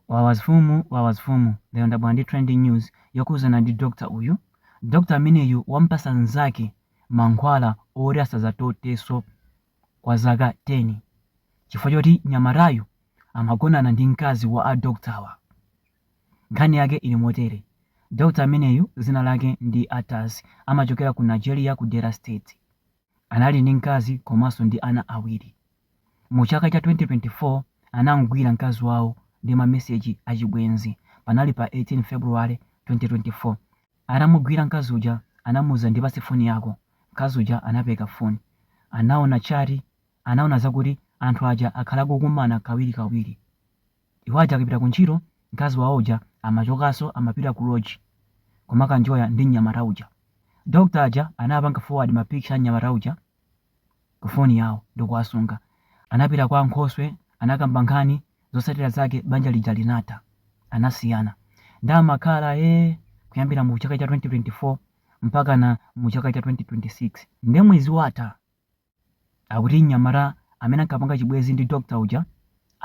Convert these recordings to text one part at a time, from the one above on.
Wawa zfumu wawa zfumu lero ndabwera ndi trending news yokhuzana ndi doctor uyu doctor ameneyu wamupasa nzake mankhwala oti asazatoteso kwa zaka 10 chifukwa choti nyamatayu amagonana ndi mkazi wa a doctor-wa nkhani yake ili motere doctor ameneyu zina lake ndi ataz amachokera ku nigeria ku delta state Anali ndi mkazi komanso ndi ana awiri. Mu chaka cha 2024, anamgwira mkazi wawo ndi ma message achibwenzi. Panali pa 18 February, 2024. Atamugwira mkazi uja anamuuza ndipatse phone yako. Mkazi uja anapereka phone. Anaona chat, anaona zakuti anthu aja akhala akukumana kawiri kawiri. Iwo aja akapita ku ntchito mkazi wawo uja amachokaso amapita ku lodge kumakanjoya ndi mnyamata uja. Doctor aja anapanga forward ma picture a mnyamata uja ku phone yawo ndikuwasunga. Anapita kwa ankhoswe anakamba nkhani zotsatira zake banja lija linatha. Anasiyana. Nde amakhala ee kuyambira mu chaka cha 2024 mpakana mu chaka cha 2026. Nde mwezi watha. Akuti mnyamata amene ankapanga chibwenzi ndi doctor uja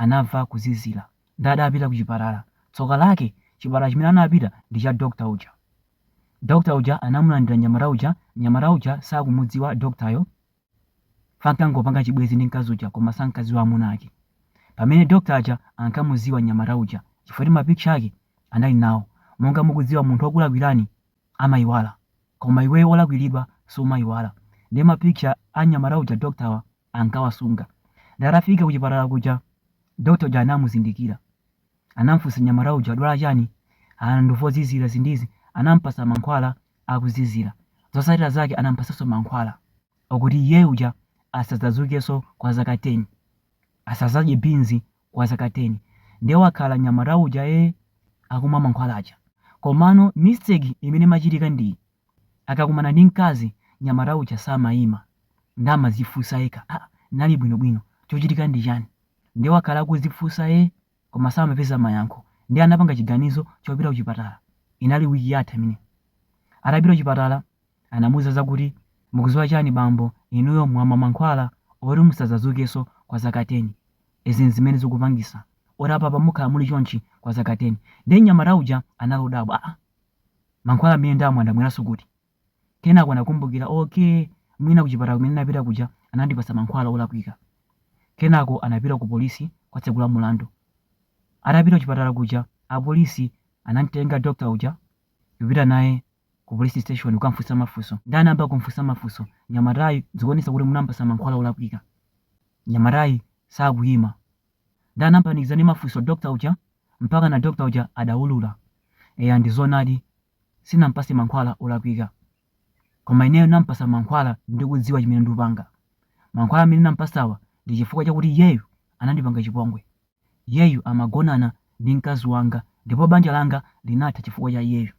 anamva kuzizira nde adapita kuchipatala. Tsoka lake chipatala chimene anapita ndi cha doctor uja. Doctor uja anamulandira mnyamata uja, mnyamata uja sakumudziwa doctor yo. Ankangopanga chibwenzi ndi mkazi uja koma sankadziwa amuna ake. Pamene doctor aja ankamudziwa mnyamata uja chifukwa choti ma picture ake anali nawo. Monga mukudziwa munthu okulakwirani amaiwala koma iweyo olakwiridwa sumaiwala nde ma picture a mnyamata uja doctor wa ankawasunga nde atafika kuchipatala kuja doctor uja anamuzindikira anamfunsa mnyamata uja wadwala chani ah ndumva kuzizira zindizi anampasa mankhwala akuzizira zosatira zake anampasaso mankhwala okuti iyeyu uja asadzazukeso kwa zaka 10 asazadye beans kwa zaka 10 nde wakhala nyamata uja ee akumwa mankhwala aja komano mistake imene imachitika ndiyi akakumana ndi mkazi nyamata uja samaima nde amazifusa yekha aa nali bwino bwino chochitika ndi chani nde wakhala akuzifusa ee koma samapeza mayankho nde anapanga chiganizo chopita kuchipatala inali week yatha imeneyi atapita kuchipatala Anamuuza zakuti, Mukuziwa chani bambo, inuyo mwamwa mankhwala oti musazazukeso kwa zaka 10. Izi nzimene zikupangisa oti apapa mukhala muli chonchi kwa zaka 10. Ndiye mnyamata uja anali odabwa, Aaa mankhwala amene ndamwa ndamweraso kuti? Kenako anakumbukira, Okey mwina kuchipatala kumene ndinapita kuja anandipasa mankhwala olakwika. Kenako anapita ku police kukatsegula mulandu. Atapita kuchipatala kuja apolisi anamtenga doctor uja kupita naye ku police station kukamfunsa mafunso nde anayamba kumfunsa mafunso mnyamatayu zikuonesa kuti munampasa mankhwala olakwika mnyamatayu sakuyima nde anampanikiza ndi mafunso doctor uja mpaka na doctor uja adaulula eya ndi zonadi sinampase mankhwala olakwika koma ineyo nampasa mankhwala ndikudziwa chimene ndikupanga mankhwala amene nampasawa ndi chifukwa chakuti iyeyo anandipanga chipongwe Iyeyu amagonana ndi mkazi wanga ndipo banja langa linatha chifukwa cha iyeyu.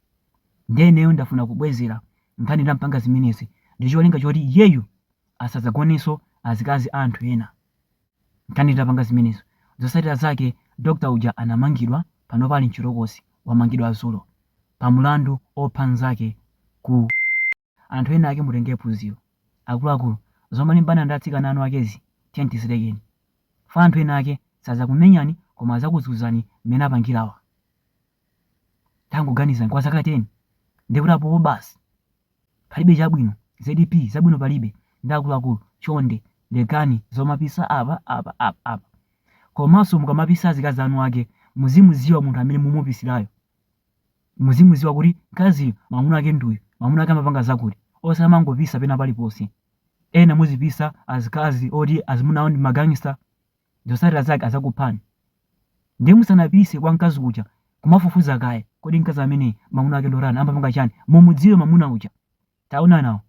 Ndiye ineyo ndafuna kubwezera nkhani ndampanga zimenezi ndi cholinga choti iyeyu asadzagonenso ndi azikazi a anthu ena. Nkhani nditapanga zimenezo, zotsatira zake doctor uja anamangidwa panopa ali mchitokosi, wamangidwa dzulo pa mlandu opha mzake ku. Anthu ena ake mutenge phunziro. Akuluakulu, zomalimbana ndi atsikana eni akezi tiyeni tizilekeni. Chifukwa anthu ena ake sadzakumenyani koma adzakuzunzani mmene apangira awa. Tangoganizani kwa zaka 10 ndiye kuti apopo basi? Palibe chabwino zedi pii zabwino palibe nde akuluakulu chonde lekani zomapisa apa apa apa apa. Komanso mukamapisa azikazi a eni ake muzimudziwa munthu amene mumupisirayo. Muzimudziwa kuti mkaziyo mwamuna wake ndi uyu, mwamuna wake amapanga zakuti. Osamangopisa pena paliponse. Ena muzipisa azikazi oti azimuna awo ndi ma gangster, zotsatira zake adzakuphani. Ndiye musanapise kwa mkazi uja, kumafufuza kaye, kodi mkazi ameneyi mwamuna wake ndi otani, amapanga chani? Mumudziwe mwamuna uja. Taonani awo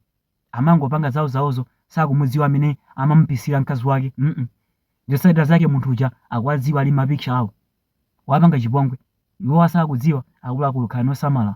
amangopanga zawo zawozo sakumudziwa amene amamupisira mkazi wake mm zotsatira zake munthu uja akuwadziwa ali mma picture awo wapanga chipongwe iwo asakudziwa akuluakulu khalani osamala.